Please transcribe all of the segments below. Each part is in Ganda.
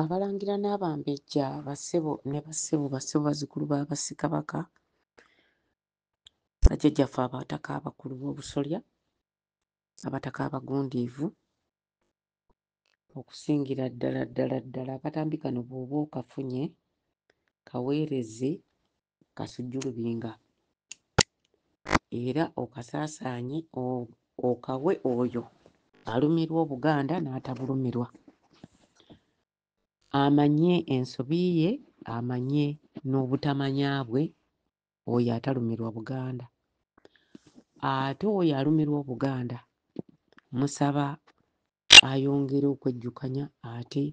Abalangira n'abambejja bassebo ne bassebo bassebo bazzukulu ba Bassekabaka bajjajjaffe Abataka abakulu b'Obusolya, Abataka abagundiivu okusingira ddala ddala ddala akatambi kano bw'oba okafunye kaweereze kasujju lubinga era okasaasaanye okawe oyo alumirwa obuganda n'atabulumirwa amanye ensobi ye amanye n'obutamanya bwe oyo atalumirwa buganda ate oyo alumirwa obuganda musaba ayongere okwejjukanya ate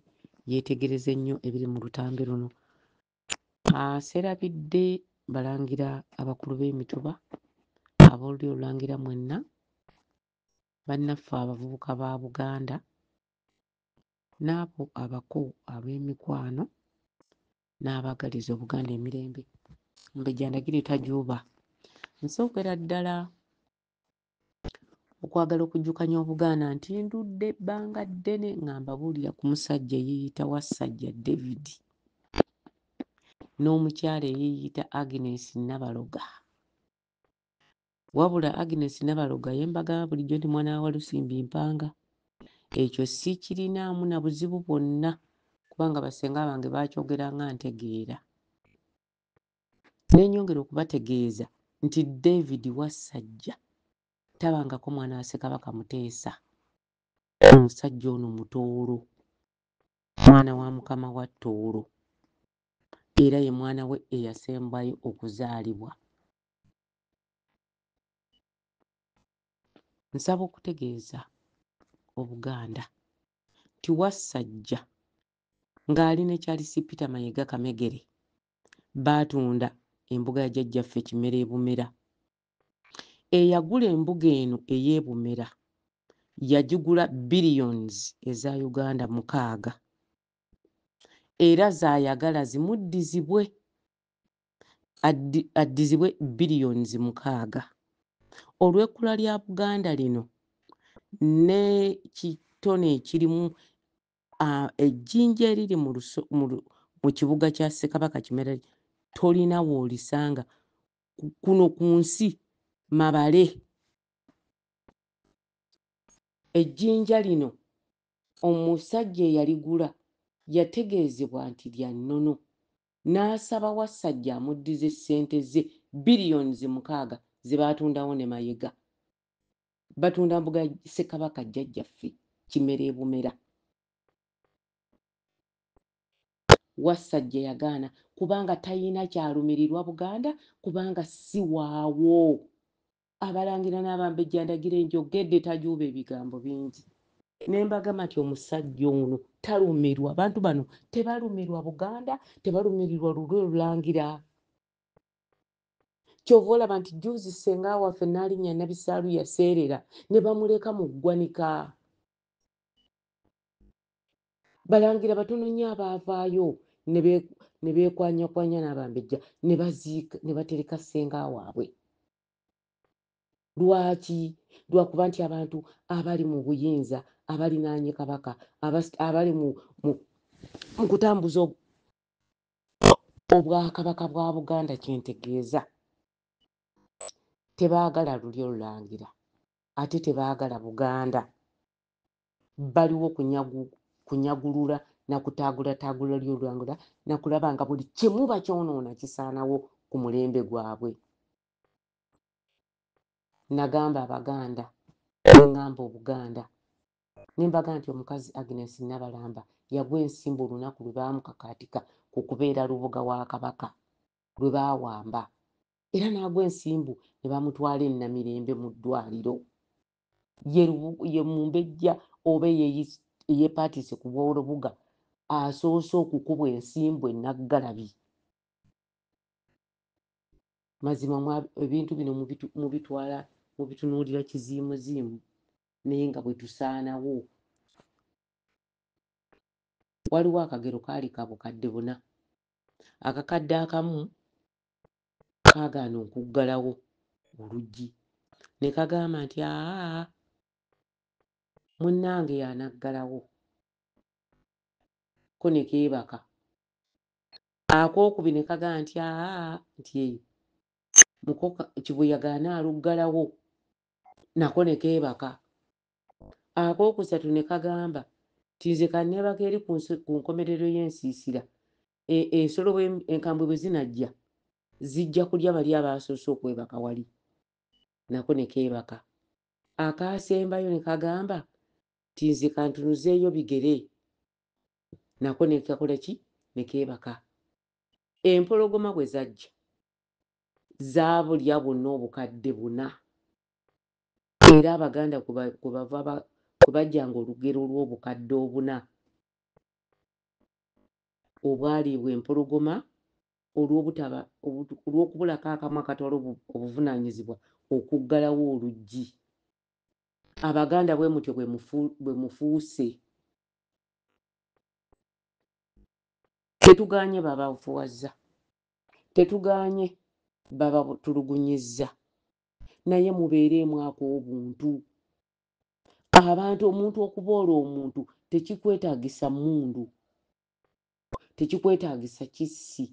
yeetegereze nnyo ebiri mu lutambi luno Aserabidde balangira abakulu b'emituba ab'olulyo olulangira mwenna bannaffe abavubuka ba Buganda n'abo abako ab'emikwano n'abaagaliza Obuganda emirembe. Omumbejja Ndagire tajuuba. Nsookera ddala okwagala okujjukanya obugaana nti ndudde ebbanga ddene nga mbabuulira ku musajja eyeeyita wassajja david n'omukyala eyeeyita agnes nabaloga wabula agnes nabaloga yembagamba bulijjo nti mwana wa walusimbi mpanga ekyo sikirinaamu na buzibu bwonna kubanga basenga bange baakyogeranga ntegeera Ne nnyongera okubategeeza nti David Wassajja tabangako mwana wa Ssekabaka Muteesa. Omusajja ono Mutooro, mwana wa Mukama wa Tooro era ye mwana we eyasembayo okuzaalibwa. Nsaba okutegeeza Obuganda nti Wassajja ng'ali ne Charles Peter Mayega Kamegere baatunda embuga ya jjajjaffe Kimera e Bumera. Eyagula embuga eno ey'e Bumera yagigula billions eza Uganda mukaaga era z'ayagala zimuddizibwe addizibwe billions mukaaga. Olw'ekkula lya Buganda lino n'ekitone ekirimu ah, ejjinja eriri mu luso- mu lu- mu kibuga kya ssekabaka kimerere tolina woolisanga Ku- kuno ku nsi mabale ejjinja lino omusajja eyaligula yategeezebwa nti lya nnono n'asaba wassajja amuddize ssente ze billions mukaaga ze baatundawo ne mayega batunda mbuga ya ssekabaka jjajjaffe kimera ebumera wassajja yagaana kubanga talina kyalumirirwa buganda kubanga si waawo abalangira n'abambejja ndagira enjogedde tajuuba ebigambo bingi ne mbagamba nti omusajja ono talumirwa abantu bano tebalumirwa buganda tebalumirirwa lulwe lulangira kyova olaba nti juuzi senga waffe nalinya nabisaalu yaseerera ne bamuleka mu ggwanika balangira batono nnyo abaavaayo ne beekwanyakwanya n'abambejja ne batereka senga waabwe lwaki lwakuba nti abantu abali mu buyinza abalinaanye kabaka abali mu kutambuza Obwakabaka bwa Buganda kye ntegeeza tebaagala lulyo Lulangira ate tebaagala Buganda. Baliwo kunyagu kunyagulula na kutaagulataagula lulyo Lulangira na kulaba nga buli kimu bakyonoona kisaanawo ku mulembe gwabwe. Nnagamba Abaganda ne ŋŋamba Obuganda Nembaga nti omukazi Agnes Nabalamba yagwa ensimbu olunaku lwe baamukakaatika ku kubeera Lubuga wa Kabaka lwe baawamba era n'agwa ensimbu ne bamutwala e Namirembe mu ddwaaliro. Ye ye Mumbejja oba eyeyis- eyeepaatiise ku bw'Olubuga asoose okukubwa ensimbu e Naggalabi. Mazima mwa- ebintu bino mubitu- mubitwala mubitunuulira kiziimuziimu naye nga bwe tusaanawo. Waliwo akagero kaali ka bukadde buna. Akakadde akamu kaagaana okuggalawo oluggi ne kagamba nti aa munnange y'anaggalawo ko ne keebaka ak'okubiri ne kagamba nti aa nti mukoka kibuyaga anaaluggalawo nako ne keebaka. Akookusatu ne kagamba nti nze ka nneebake eri ku nkomerero y'ensiisira, e, ensolo enkambwe bwe zinajja zijja kulya bali abaasoose okwebaka wali. Nako ne keebaka. Akaasembayo ne kagamba nti nze kantunuzeeyo bigere. Nako ne kakola ki? Ne keebaka. Empologoma bwe zajja, Zaabu lya bonna obukadde buna. Era Abaganda kwe bava kwe bajjanga olugero lw'obukadde obuna obwaliibwa empologoma olw'obutaba olw'okubulako akamu akatwala obuvunaanyizibwa okuggalawo oluggi. Abaganda bwe mutyo bwe mufuuse. Tetugaanye babafuwazza. Tetugaanye babatulugunyizza naye mubeereemu ak'obuntu. Abantu omuntu okuboola omuntu tekikwetaagisa mmundu, tekikwetaagisa kissi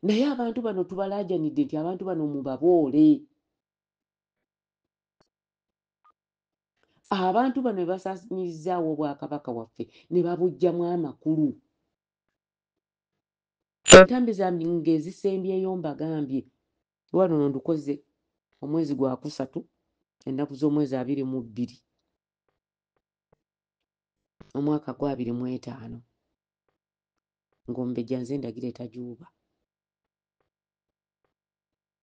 naye abantu bano tubalaajanidde nti abantu bano mubaboole. Abantu bano be basaanyirizaawo Obwakabaka bwaffe ne babuggyamu amakulu. Entambi zambi ngezisembyeyo mbagambye lwa luno ndukoze omwezi gwa kusatu ennaku z'omwezi abiri mu bbiri omwaka gwa abiri mu etaano ng'ombejja nze ndagira etajuuba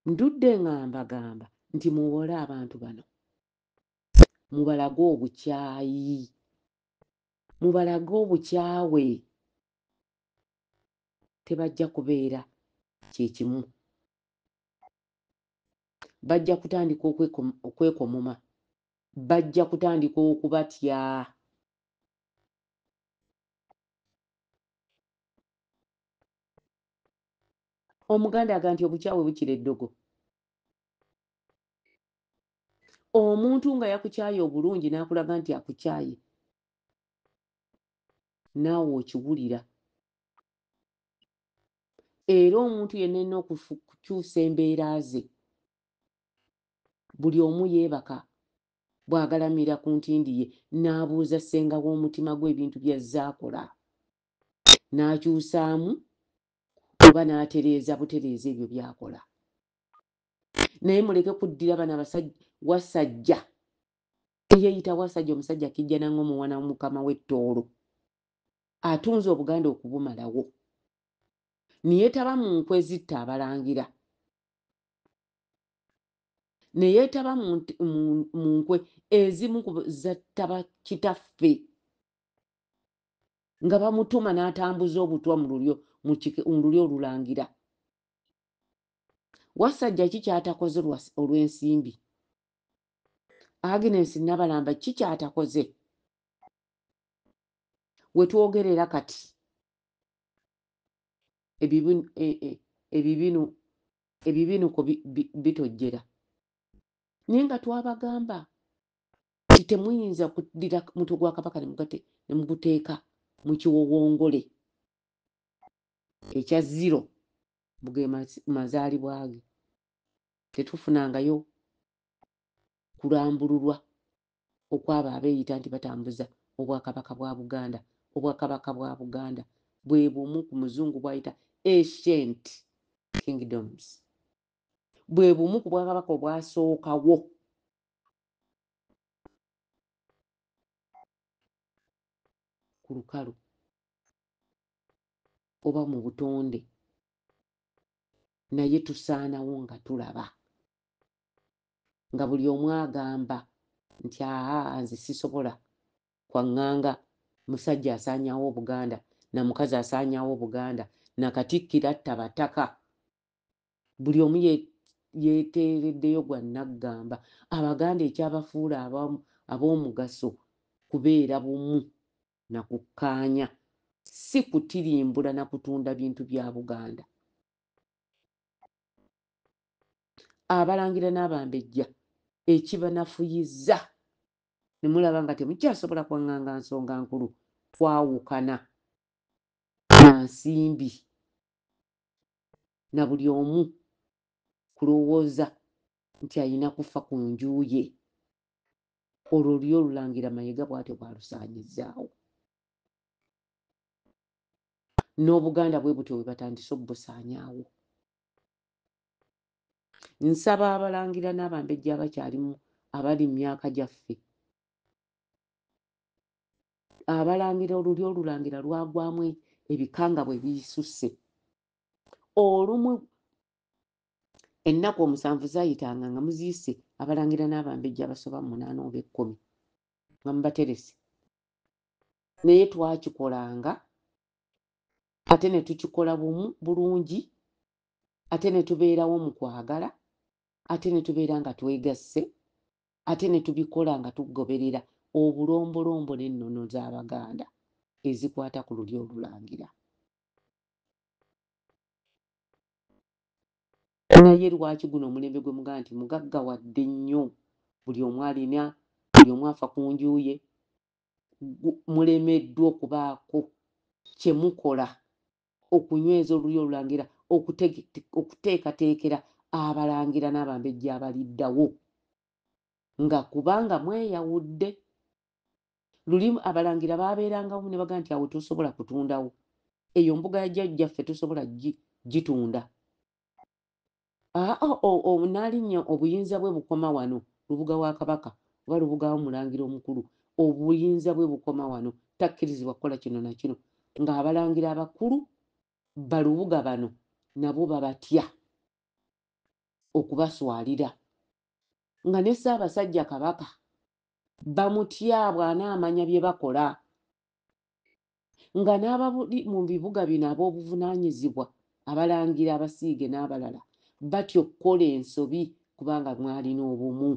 ndudde nga mbagamba nti muwole abantu bano mubalage obukyayi mubalage obukyawe tebajja kubeera kye kimu. Bajja kutandika okwekomoma, bajja kutandika okubatya. Omuganda aga nti obukyawe bukira eddogo. Omuntu nga yakukyaye obulungi n'akulaga nti akukyaye naawe okiwulira era omuntu yenna erina okukyusa embeera ze buli omu yeebaka bw'agalamira ku ntindi ye n'abuuza ssenga w'omutima gwe ebintu by'azze akola n'akyusaamu oba n'atereeza butereeza ebyo by'akola naye muleke kuddira bano abasajja wasajja Eyeyita Wasajja omusajja kijjana ngo muwana womukama we Tooro atunze obuganda okubumalawo niyetaba mu nkwe zitta abalangira neyetaba mu, mu, mu nkwe ezimu zattaba kitaffe nga bamutuma n'atambuza obutwa mu lulyo mu lulyo olulangira wasajja ki kyatakoze olw'ensimbi agnes nabalamba ki kyatakoze wetwogerera kati ebibinu e, e, ebibinuko bitojjera naye nga twabagamba nti temuyinza kudira mutwe gwa kabaka nemuguteeka mu kiwowongole ekya ziro muge mazaalibwa ge tetufunangayo kulambululwa okwabo abeeyita nti batambuza obwakabaka bwa Buganda. Obwakabaka bwa Buganda bwe bumu ku muzungu bw'ayita ancient kingdoms. Bwe bumu ku bwakabaka obwasookawo. ku lukalu oba mu butonde naye tusaanawo nga tulaba nga buli omu agamba nti aa nze sisobola kwaŋŋanga musajja asaanyawo obuganda na mukazi asaanyawo obuganda na katikkiro atta bataka buli omu yeteereddeyo gwa naggamba abaganda ekyabafuula ab'omugaso kubeera bumu na kukkaanya si kutirimbula na kutunda bintu bya buganda abalangira n'abambejja ekibanafuyizza ne mulaba nga temukyasobola kwaŋŋanga nsonga nkulu kwawukana na nsimbi na buli omu kulowooza nti alina kufa ku nju ye olwo luli olulangira mayega bwatyo bwalusaanyizzaawo n'obuganda bwe butyo bwe batandise obubusaanyaawo nsaba abalangira n'abambejja abakyalimu abali mu myaka gyaffe abalangira oluli olulangira lwagwamu e, ebikanga bwe bisusse olumu ennaku omusanvu zayitanga nga muziyise abalangira n'abambejja abasoba mu munaana oba ekkumi nga mubaterese naye twakikolanga ate ne tukikola bumu bulungi ate ne tubeerawo mu kwagala ate ne tubeera nga twegasse ate ne tubikola nga tugoberera obulombolombo n'ennono z'Abaganda ezikwata ku lulyo olulangira. naye lwaki guno omulembe gwe mugaa nti mugagga wadde nnyo buli omu alina buli omu afa ku njuuye mulemeddwa okubaako kyemukola okunyweza Olulyo Olulangira, okuteekateekera Abalangira n'Abambejja abaliddawo, nga kubanga mweyawudde. Luli Abalangira baabeeranga wamu ne bagamba nti awo tosobola kutundawo, eyo mbuga ya Jjajjaffe tosobola gitunda. Aa o o o Naalinnya obuyinza bwe bukoma wano, Lubuga wa Kabaka, oba Lubuga wo Mulangira omukulu, obuyinza bwe bukoma wano, takkirizibwa kukola kino na kino, nga abalangira abakulu ba Lubuga bano nabo babatya okubaswalira, nga ne Ssaabasajja Kabaka bamutya bw'anaamanya bye bakola. nga n'ababuli mu bibuga bino ab'obuvunaanyizibwa, abalangira, abasiige n'abalala batya okukola ensobi kubanga mwalina obumu.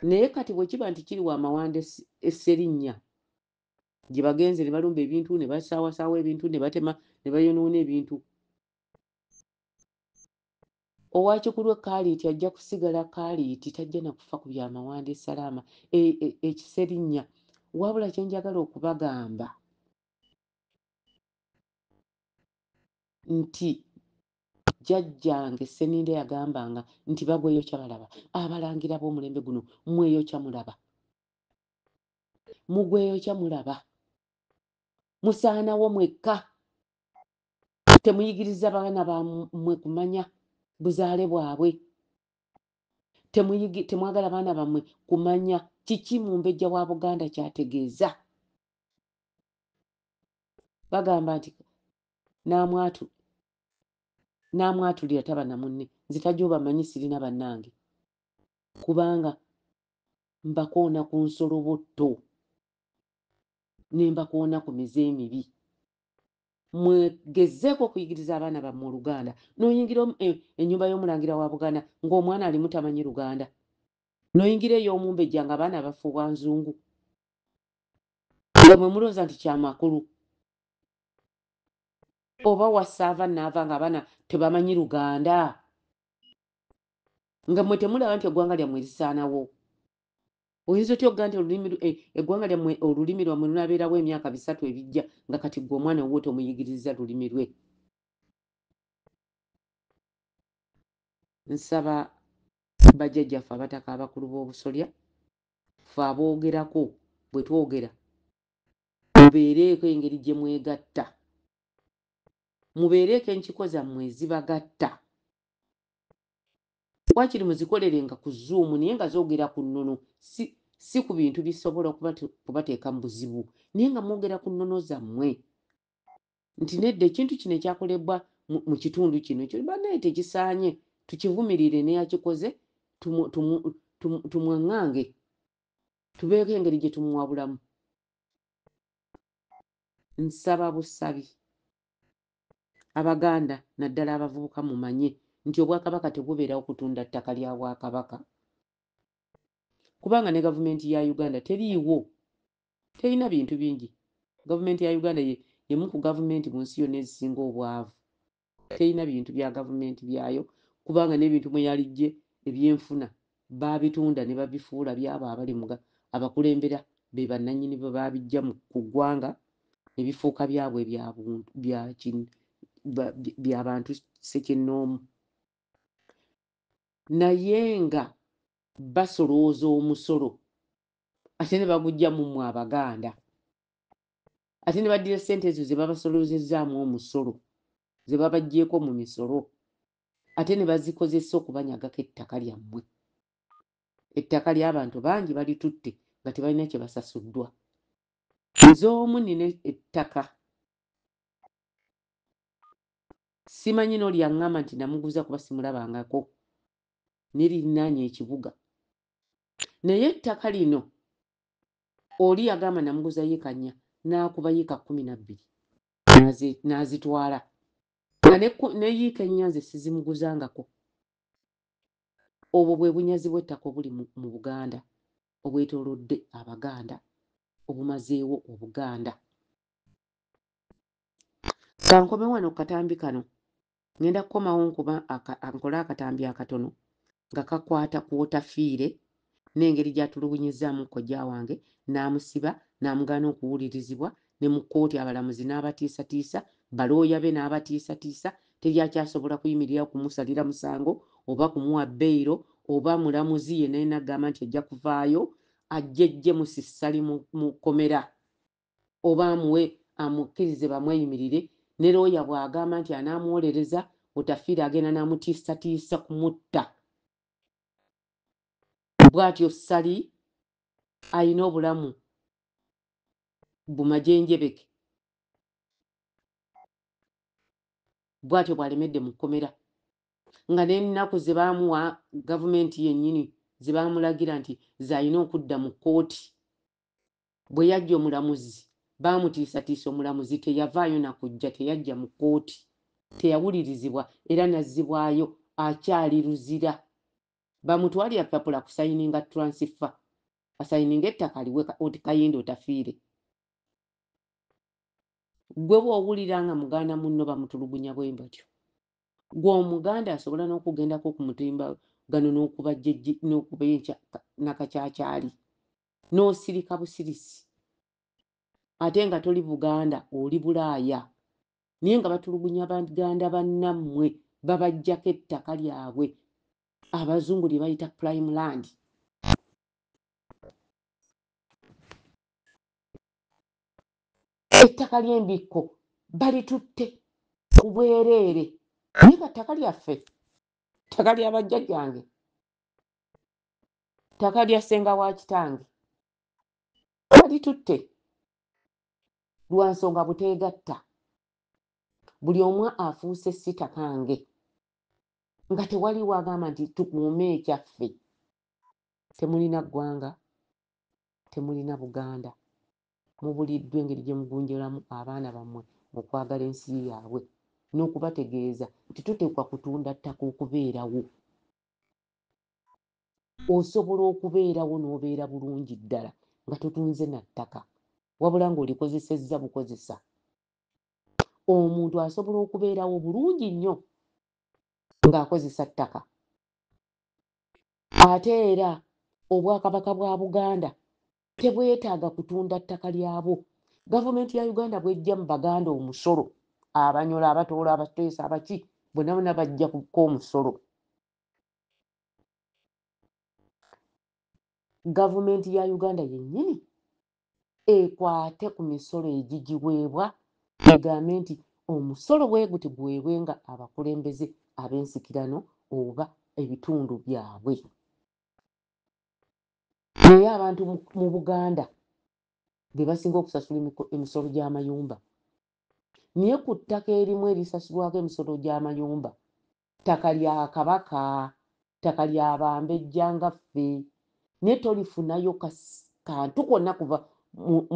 Naye kati bwe kiba nti kiri wa Mawanda e Sserinnya gye bagenze ne balumba ebintu ne basaawasaawa ebintu ne batema ne bayonoona ebintu Owa kikulwe kaaliiti ajja kusigala kaaliiti tajja na kufa ku bya mawanda e Salaama e, e, e Kiserinnya. Wabula kye njagala okubagamba nti jjajjange Sseninde yagambanga nti bagweyokya balaba, abalangira b'omulembe guno mweyokya mulaba, mugweyokya mulaba, musaanawo mwekka. temuyigiriza baana bamwe kumanya buzaale bwabwe temwagala baana bamwe kumanya kiki mumbejja wa buganda kyategeeza bagamba nti namwatu namwatulira taba na munne nze tajja obamanyi sirina bannange kubanga mbakoona ku nsolobotto ne mbakoona ku mize emibi mwegezzeeko okuyigiriza abaana bammwe oluganda n'oyingira e, ennyumba y'omulangira wa buganda ng'omwana alimu tamanyi luganda n'oyingira ey'omumbejja nga abaana bafuubwa nzungu nga mwe mulooza nti kyamakulu oba wasaava naava nga abaana tebamanyi luganda nga mwe temulaba nti eggwanga lyammwe lisaanawo Oyinza otya okugaa nti olulimi eh, eggwanga lyammwe olulimi lwammwe lunaabeerawo emyaka bisatu ebijja nga kati ggwe omwana wuwo tomuyigiriza lulimi lwe? Nsaba bajjajjaffe abataka abakulu b'obusolya ffe aboogerako bwe twogera mubeereeko engeri gye mwegatta mubeereeko enkiko zammwe ezibagatta wakiri muzikolerenga ku zoom naye nga zogera ku nnono si, si ku bintu bisobola kubateeka mu buzibu naye nga mwogera ku nnono zammwe nti nedda ekintu kino ekyakolebwa mu kitundu kino ekyo banaye tekisaanye tukivumirire neyakikoze tumwaŋŋange tubeeko engeri gye tumuwabulamu nsaba busabi Abaganda naddala abavubuka mumanye nti Obwakabaka tebubeerawo kutunda ttaka lya Bwakabaka kubanga ne gavumenti ya Uganda teriiwo, terina bintu bingi. Gavumenti ya Uganda y'emu ku gavumenti mu nsi yonna ezisinga obwavu. Terina bintu bya gavumenti byayo kubanga n'ebintu mwe yalijje ebyenfuna baabitunda ne babifuula byabo abali mu abakulembera be bannannyini bwe baabiggya ku ggwanga ne bifuuka byabwe bya bantu ssekinnoomu naye nga basolooza omusolo ate ne bagujja mu mmwe abaganda ate ne baddira ssente ezo ze babasolozezzaamu omusolo ze babaggyeko mu misolo ate ne bazikozesa okubanyagako ettaka lyammwe ettaka ly'abantu bangi balitutte nga tebalina kye basasuddwa nze omu nina ettaka simanyi n'oli aŋŋamba nti namuguza kuba simulabangako nirinaanya ekibuga naye ettaka lino oli yagamba namuguza yiika nnya n'akuba yiika kkumi na bbiri n'azitwala nga ne ku- ne yiika ennya nze sizimuguzangako obwo bwe bunyazi bw'ettaka obuli mu, mu buganda obwetoolodde abaganda obumazeewo obuganda kankome wano ku katambi kano ngenda kukomawo nkuba aka, a- nkole akatambi akatono nga kakwata ku wotafiire n'engeri gy'atulugunyizzaamu kojja wange n'amusiba n'amugaana okuwulirizibwa ne mu kkooti abalamuzi n'abatiisatiisa, balooya be n'abatiisatiisa, teri akyasobola kuyimirirawo kumusalira musango oba kumuwa beyiro oba mulamuzi yenna yenna agamba nti ajja kuvaayo ajjejje Musissali mu mu kkomera oba amuwe amukkirize bamweyimirire ne looya bw'agamba nti anaamuwolereza Otafiire agenda n'amutiisatiisa kumutta. bwatyo ssali alina obulamu bumajenjebeke bwatyo bwalemedde mu kkomera nga n'ennaku ze baamuwa gavumenti yennyini ze baamulagira nti z'alina okudda mu kkooti Bwe yajja omulamuzi baamutiisatiisa omulamuzi teyavaayo na kujja, teyajja mu kkooti, teyawulirizibwa era n'azzibwayo akyali Luzira. Bamutwalira lupapula kusayininga tulansifa, asayininge ettaka aliwe oti Kayindo otafiire. Ggwe bw'owulira nga muganda munno bamutulugunya bwe batyo, ggwe Omuganda asobola n'okugendako ku mutimbagano n'okuba enkya na kakyakyaali n'osirika busirisi ate nga toli buganda oli bulaaya naye nga batulugunya baganda bannammwe babajjako ettaka lyabwe abazungu lye bayita prime land ettaka ly'embikko balitutte ku bwereere naye nga ttaka lyaffe ttaka lya bajjajjange ttaka lya ssenga wa kitange balitutte lwa nsonga buteegatta buli omu afuuse si takange nga tewali wagamba nti tukuume ekyaffe temulina ggwanga temulina buganda mubuliddwa engeri gye mugunjolamu abaana bammwe mu kwagala ensi yaabwe n'okubategeeza nti tuteekwa kutunda ttaka okubeerawo osobola okubeerawo n'obeera bulungi ddala nga totunze na ttaka wabula ng'olikozesezza bukozesa omuntu asobola okubeerawo bulungi nnyo ng'akozesa ttaka ate era obwakabaka bwa buganda tebwetaaga kutunda ttaka lyabwo gavumenti ya uganda bwejja mu baganda omusolo abanyola abatoola abateesa abaki bonabona bajja kuka omusolo gavumenti ya uganda yennyini ekwate ku misolo egigiweebwa egambe nti omusolo bweguti guweebwe nga abakulembeze ab'ensikirano oba ebitundu byabwe naye abantu mu buganda be basinga okusasula emisolo gy'amayumba naye ku ttaka erimu erisasulwako emisolo gy'amayumba ttaka lya Kabaka, ttaka lya bambejja nga ffe, naye tolifunayo kantu konna kuva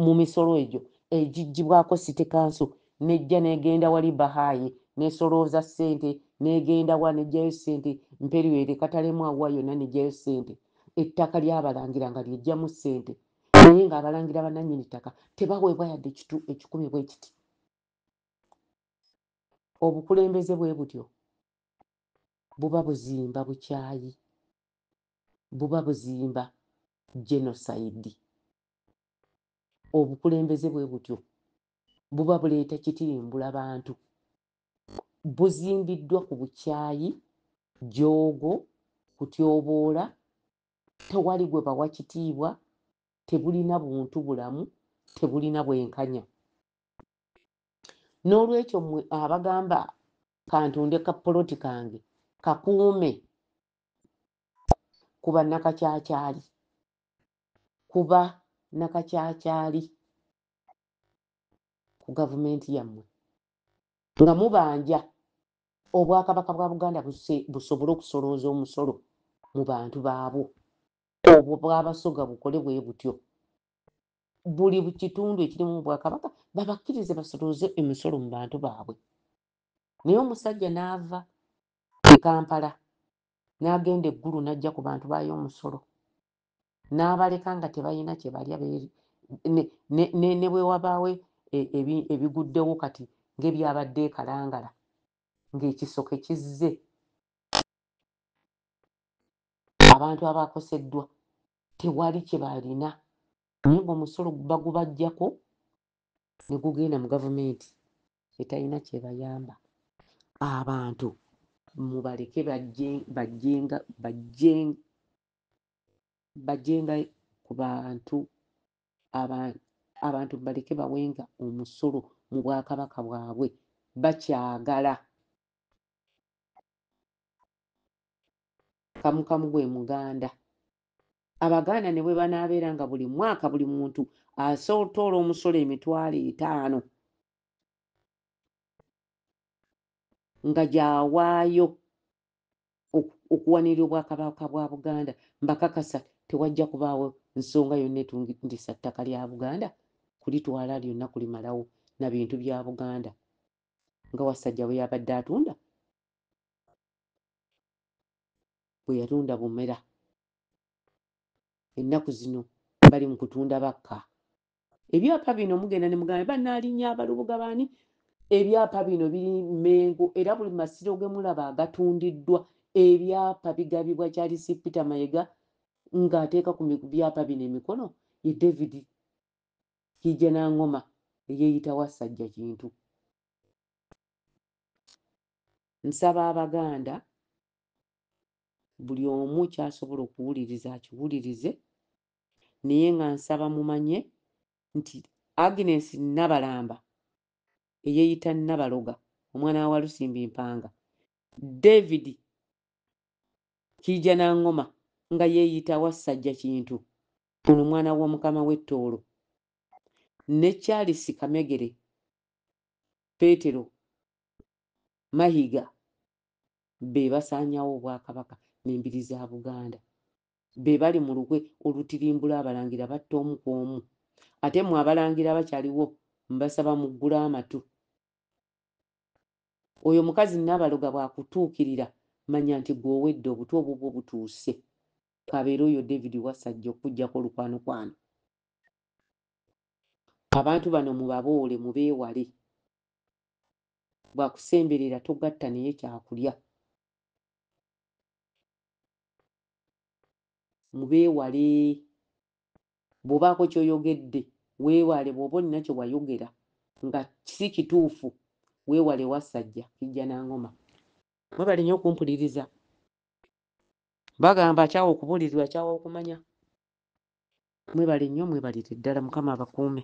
mu misolo egyo egiggyibwako City Council n'ejja n'egenda wali Bahayi n'esolooza ssente n'egenda wa n'eggyayo ssente Mperywere Katalemu awa yonna n'eggyayo ssente ettaka ly'abalangira nga ly'eggyamu ssente naye ng'abalangira bannannyini ttaka tebaweebwa yadde ekikumi bwe kiti obukulembeze bwe butyo buba buzimba bukyayi buba buzimba genocide obukulembeze bwe butyo buba buleeta kitimbula bantu buzimbiddwa ku bukyayi joogo kutyoboola tewali gwe bawa kitiibwa tebulina buntu bulamu tebulina bwenkanya n'olwekyo mwe abagamba kantunde ka poloti kange kakuume ku bannakakyakyali kuba nakakyakyali ku gavumenti yammwe nga mubanja obwakabaka bwa buganda busobole okusolooza omusolo mu bantu baabwo obwo bwabasoga bukole bwe butyo buli kitundu ekirimu obwakabaka babakkirize basoloze emisolo mu bantu baabwe naye omusajja n'ava e kampala n'agenda eggulu n'ajja ku bantu baayo omusolo n'abaleka nga tebalina kye balya ne bwe wabaawo e, ebiguddewo kati ng'ebyabadde ekalangala ng'ekisoke kizze abantu abakoseddwa tewali kye baalina naye ng'omusolo bagubajjako ne gugenda mu gavumenti etalina kyebayamba abantu mubaleke bajjenga ku bantu abantu mubaleke bawenga omusolo mu bwakabaka bwabwe bakyagala kamu kamu gwe muganda abaganda ne bwe banaabeera nga buli mwaka buli muntu asotoola omusolo emitwalo etaano nga gyawaayo okuwanirira obwakabaka bwa buganda mbakakasa tewajja kubaawo nsonga yonna etungisa ttaka lya buganda kulitwala lyonna kulimalawo na bintu bya buganda nga wasajja bwe yabadde atunda bwe yalonda bumera ennaku zino bali mu kutunda bakka ebyapa bino mugenda ne muganda banaalinya abalubuga baani ebyapa bino biri mengo era buli masiro ge mulaba agatundiddwa ebyapa bigabibwa kyalisi peter mayega ng'ateeka ku byapa bino emikono ye david kijja n'angoma eyeeyita wassajja kintu nsaba abaganda buli omu kyasobola okuwuliriza akiwulirize naye nga nsaba mumanye nti agnes nabalamba eyeyita nabaloga omwana wa walusimbi mpanga david kiija nangoma nga yeyita wassajja kintu ono omwana womukama wettoolo ne charles kamegere petero mayiga be basaanyawo obwakabaka n'embiri za buganda be bali mu lukwe olutirimbula abalangira batta omu ku omu ate mwe abalangira abakyaliwo mbasaba muggule amatu oyo mukazi nabaloga bwakutuukirira manya nti gwowedde obutu obubwo butuuse kabeera oyo david wasajja okujjako olukwano kwano abantu bano mubaboole mubeewale bwakusemberera togatta naye kyakulya mubeewale bw'obaako ky'oyogedde weewale bw'oba olina kye wayogera nga si kituufu weewale wassajja kijja na ngoma mwebale nnyo okumpuliriza bagamba akyawa okubuulirirwa akyawa okumanya mwebale nnyo mwebalire ddala mukama abakuume